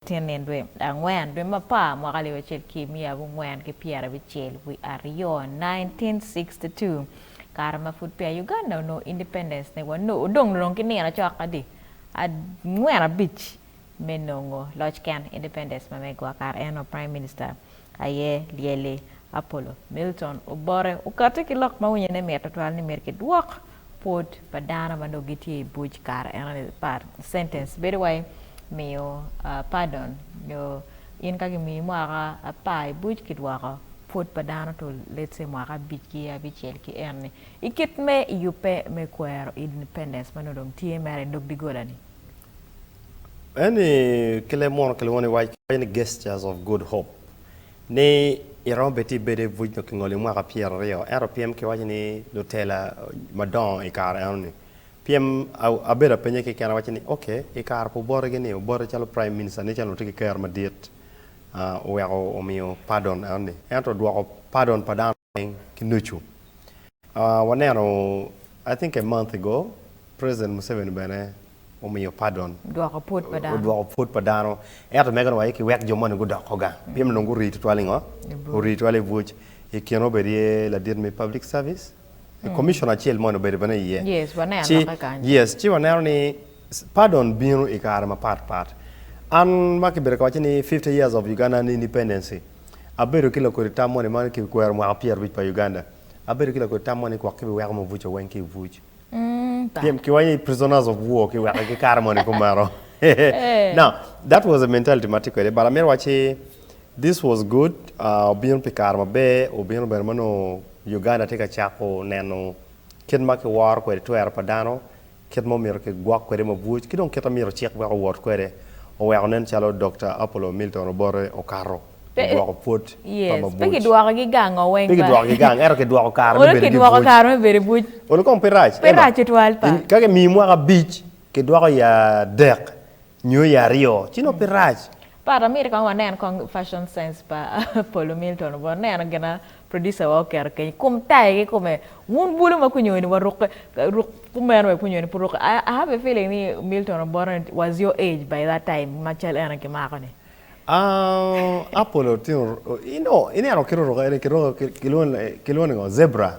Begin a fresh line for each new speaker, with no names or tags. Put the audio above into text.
Tyen-ni dwe angwen, dwe mapar, mwaka alip acel ki miya abongwen ki pyerabicel wi aryo, 1962, kare ma pud peya Uganda onongo independence ne wanongo odong dong ki nino cok adi angwen abic me nongo loc ken independence ma megwa kare en o prime minister aye lyelli, Apollo, Milton, Obote, okati ki lok ma winyo ne mit tutwal ni myero ki dwok pwod pa dano ma dong gitye i buc kare eno ni part sentence bedo wai miyo pardon nyo in ka ki miyi mwaka apar i buc ki dwoko pwod pa dano to let's say mwaka abic ki abicel ki eno ni ikit me yubbe me kwero independence ma nongo dong tye mere idog digolani. Eni
ki leb munu kilwongo ni waco ni Gestures of Good Hope ni iromo bed ti bedo i buc nyo kingoli i mwaka pyer aryo ento pyem ki waco ni lutela madongo i kare eno ni pyem abedo apenye ki kena awaco ni ok i kare pi oboti gi ni oboti calo prime minister ni calo tye ki ker madit oweko omiyo pardon eno ni ento odwoko pardon pa dano ki nucu. Waneno I think a month ago president Museveni bene omiyo pardon. Dwoko pwod pa dano.
Odwoko pwod pa dano.
Ento mege ni wa ki wek jo moni gudoko ga. Mm. Pien nongo ori tutwal ingo? Ori tutwal i buc. I kine obedi ye ladit me public service. Mm. Commissioner acel moni obedo bene iye. Yes, waneno ci,
kanyo. Yes, ci waneno ni
Pardon bino i kare mapat pat. An ma kibedo ka waco ni fifty years of Ugandan independency, abedo ki lakodi tam moni ma ki kwero mwaka pyer abic pa Uganda. Abedo ki lakodi tam moni gwok ki bi weko Mobuco weng ki i buc. Pien ki waco ni prisoners of war ki weko ki kare moni kumeno. Now, that was a mentality ma atye kwede but amito wac ni this was good, obino pi kare maber, obino bene ma nongo Uganda tye ka cako neno kit ma ki woro kwede twero pa dano kit ma omyero kigwok kwede mabwoc, ki dong kit ma myero cik wek owot kwede, oweko nen calo Dokta Apollo Milton Obote okato Pe, ogwoko pwod pa yes, pe mabwoc. kidwokogi
gang o weng Pe ba. kidwokogi gang, ento kidwoko
kare me Olo bedo ki kidwoko bwoc. kare me
bedo bwoc. Olo kong pe rac, Pe
Emma. rac tutwal pa. In-
Ka kimiyi mwaka abic,
kidwoko i adek, Nyo ya aryo ci nongo pe rac. Part amiti kong
wanen kong fashion sense pa Polo Milton obwot neno gina producer wa oketo kenyo ikom taye ki kome wun bulu ma kunyo ni waruk ruk kumeno wek kunyo ni pe oruke I have a feeling ni Milton obwot ni was your age by that time ma cal eno kimako ni. Aah Apollo
tino you know ineno kit oruke eni kiruke kilwongo ni ngo zebra.